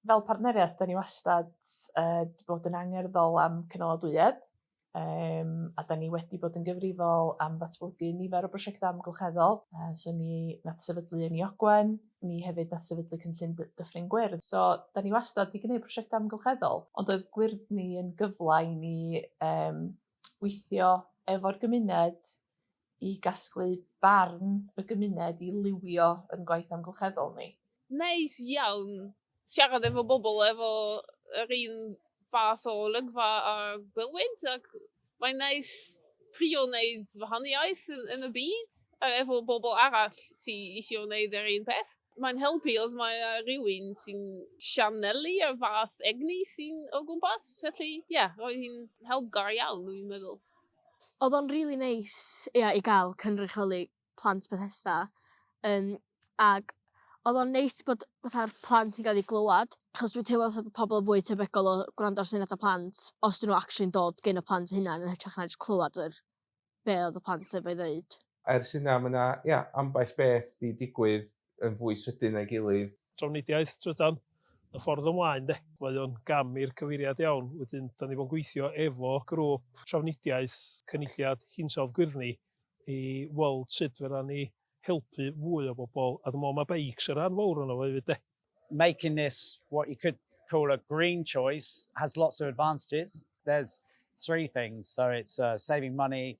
Fel partneriaeth, da ni wastad uh, bod yn angerddol am cynaladwyedd, um, a da ni wedi bod yn gyfrifol am ddatblygu nifer o brosiectau amgylcheddol. Uh, so ni nath sefydlu yn Iogwen, ni hefyd nath sefydlu cynllun Dyffryn Gwyrdd. So da ni wastad wedi gwneud prosiectau amgylcheddol, ond oedd gwyrdd ni yn gyfle i ni um, weithio efo'r gymuned i gasglu barn y gymuned i liwio yn gwaith amgylcheddol ni. Neis iawn siarad efo bobl efo yr un fath o olygfa a gwelwyd ac mae'n neis trio wneud wahaniaeth yn y byd a efo bobl arall sy isio wneud yr un peth. Mae'n helpu os mae yna rywun sy'n sianelu y fath egni sy'n o gwmpas, felly ie, roedd hi'n helpgar iawn dwi'n meddwl. Odd o'n rili neis ia i ga'l cynrychioli plant Bethesda yym ag odd o'n neis bod fatha'r plant yn ga'l 'u glywad 'chos dwi'n teimlo fatha bo' pobol yn fwy tebygol o gwrando ar syniada plant os 'dyn n'w actually'n dod gin y plant 'u hunan yn hytrach na jys clywad yr be' odd y plant efo'i ddeud. Ers hynna ma' 'na ia ambell beth 'di digwydd yn fwy sydyn na'i gilydd. Trafnidiaeth trydan, y ffordd ymlaen de. Mae o'n gam i'r cyfeiriad iawn, wedyn 'dan ni fo'n gweithio efo grŵp trafnidiaeth Cynulliad Hinsawdd Gwyrddni i weld sut fedran ni helpu fwy o bobl, a dwi me'wl ma' beics yn rhan fowr ono fo efyd de. Making this what you could call a green choice has lots of advantages. There's three things, so it's saving money,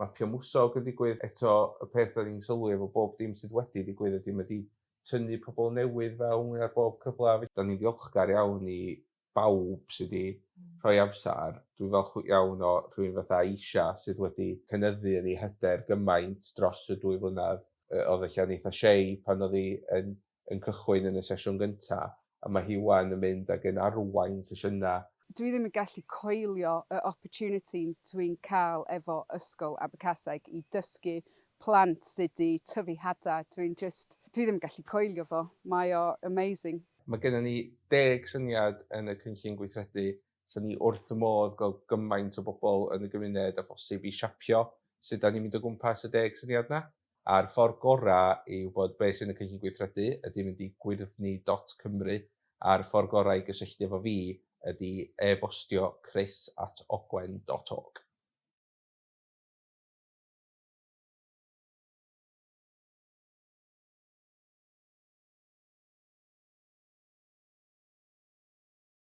mapio mwsog yn digwydd, eto y peth dan ni'n sylwi efo bob dim sydd wedi digwydd ydi ma' di tynnu pobl newydd fewn ar bob cyfle felly dan ni'n ddiolchgar iawn i bawb sydd wedi rhoi amser, dwi'n falch iawn o rhywun fatha Aisha sydd wedi cynyddu yn ei hyder gymaint dros y dwy flynedd, oedd ella'n eitha' shy pan oedd hi yn yn cychwyn yn y sesiwn gyntaf, a mae hi 'wan yn mynd ac yn arwain sesiynau. Dwi ddim yn gallu coelio y opportunity dwi'n cael efo Ysgol Abercaseg i dysgu plant sut i tyfu hada, dwi'n jyst, dwi ddim yn gallu coelio fo, mae o amazing. Mae genna ni deg syniad yn y cynllun gweithredu, so ni wrth fy modd gweld gymaint o bobl yn y gymuned â phosib i siapio sut 'da ni'n mynd o gwmpas y deg syniad 'na. a'r ffordd gorau i wybod beth sy'n y cynllun gweithredu ydy mynd i gwyrddni dot cymru a'r ffordd gorau i gysylltu efo fi ydy e-bostio chris at ogwen dot org.